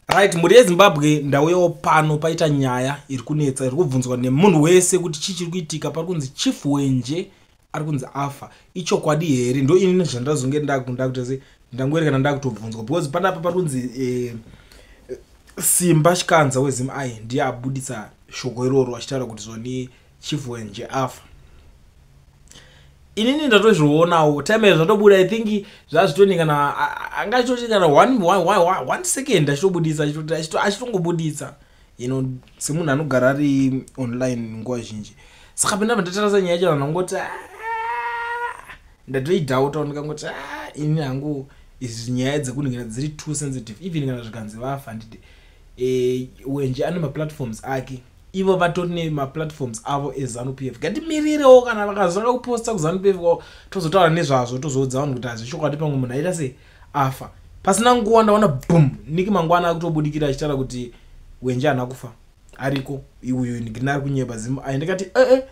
right mhuri yezimbabwe ndauyawo pano paita nyaya iri kunetsa iri kubvunzwa nemunhu wese kuti chii chiri kuitika pari kunzi chief wenje ari kunzi afa ichokwadi here ndo ini zvandazonge ndakunda kuti se ndangoerekana ndakutobvunzwa because panapa pari kunzi eh, simba chikanza wezim i ndiye abudisa shoko iroro achitaura kuti zvoni chivwenje afa inini ndatozvionawo time iyo zvatobuda i think zvazvitoni kana anga achitoti kana one second achitobudisa achitongobudisa you know semunhu anogara ari online nguva zhinji saka penda pandatarasa nyaya yacho vanhu vangoti ah, ndatoidhauta ndikangoti ah, ini hangu izi nyaya dzekuningina dziri too sensitive even kana zvikanzi vafa handidi e, eh, wenje ane maplatforms ake ivo vatori nemaplatforms avo ezanupf ngatimirirewo kana vakazanga kuposta kuzanupf kwavo tozotaura nezvazvo tozoudza vanhu kuti hazvechokwadi pamwe munhu aita sei afa pasina nguva ndaona bum niki mangwana akutobudikira achitaura kuti wenje hana kufa ariko iuyu ndina ari kunyeba zim ai ndikati ee eh, eh.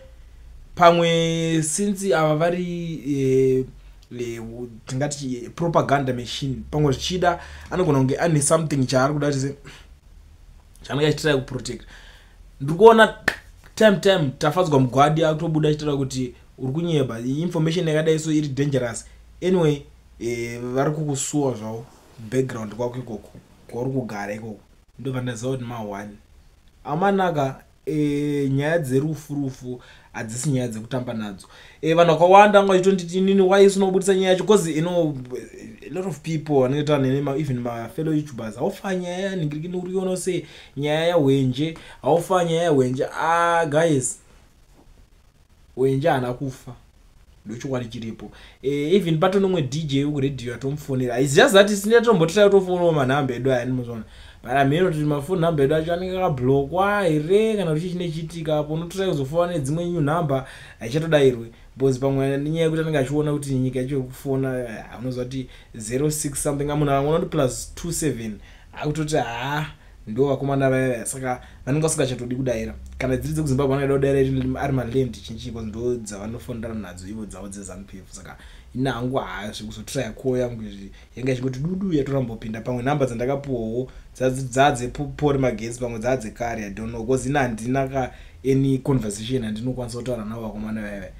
pamwe since ava vari eh, eh, tingati eh, propaganda machine pamwe zvichida anogona kunge ane something chaari kuda kuti chanenge achitira kuprotect ndiri kuona time time tafadzwa mugwadi akutobuda achitira kuti uri kunyeba information yakadai so iri dangerous anyway eh, vari kukusuwa zvavo background kwako ikoko kwauri kugara ikoko ndobva ndaziva kuti ma one amanaka e, nyaya dzerufu rufu hadzisi nyaya dzekutamba nadzo e, vanhu vakawanda anga vachitonditi inini why isinobudisa nyaya yacho bcause you know a lot of people vanenge taura nene even mafellow youtubers haufa nyaya yanhingirikini uriona se nyaya yahwenje haufa nyaya yahwenje a ah, guys wenje haana kufa ndochokwadi chiripo eh, even pato nomwe dj wekuredio atomufonera is just that isina tombotira tofonawo manhamba edu aya nimozona but amheno kuti mafoni nhamba edu acho anenge akablokwa here kana kuti chii chine chiitika apo unotorai kuzofona nedzimwe new nhamba haichatodairwe bcause pamwe nyaya yekuti anenge achiona kuti nyika yacho yekufona eh, unoziva kuti 06 something amuna vamwe unoti plus 27 akutoti haa ndo vakomana vaya vaya saka vanenge vasingachatodi kudaira kana dziri dzekuzimbabwe vanoda kudaira ari maland chinchi bcause ndo dzavanofonera nadzo ivo dzavo dzezanupf saka ina hangu haa zvekuzotiraya koo yangu izvi yanga ichingoti dudu yatorambopinda pamwe nhamba dzandakapuwawo dzaadzepori magetsi pamwe dzaadzekare i don't know bcause ina handina ka any conversation yandinokwanisa kutaura navo vakomana vaya vaya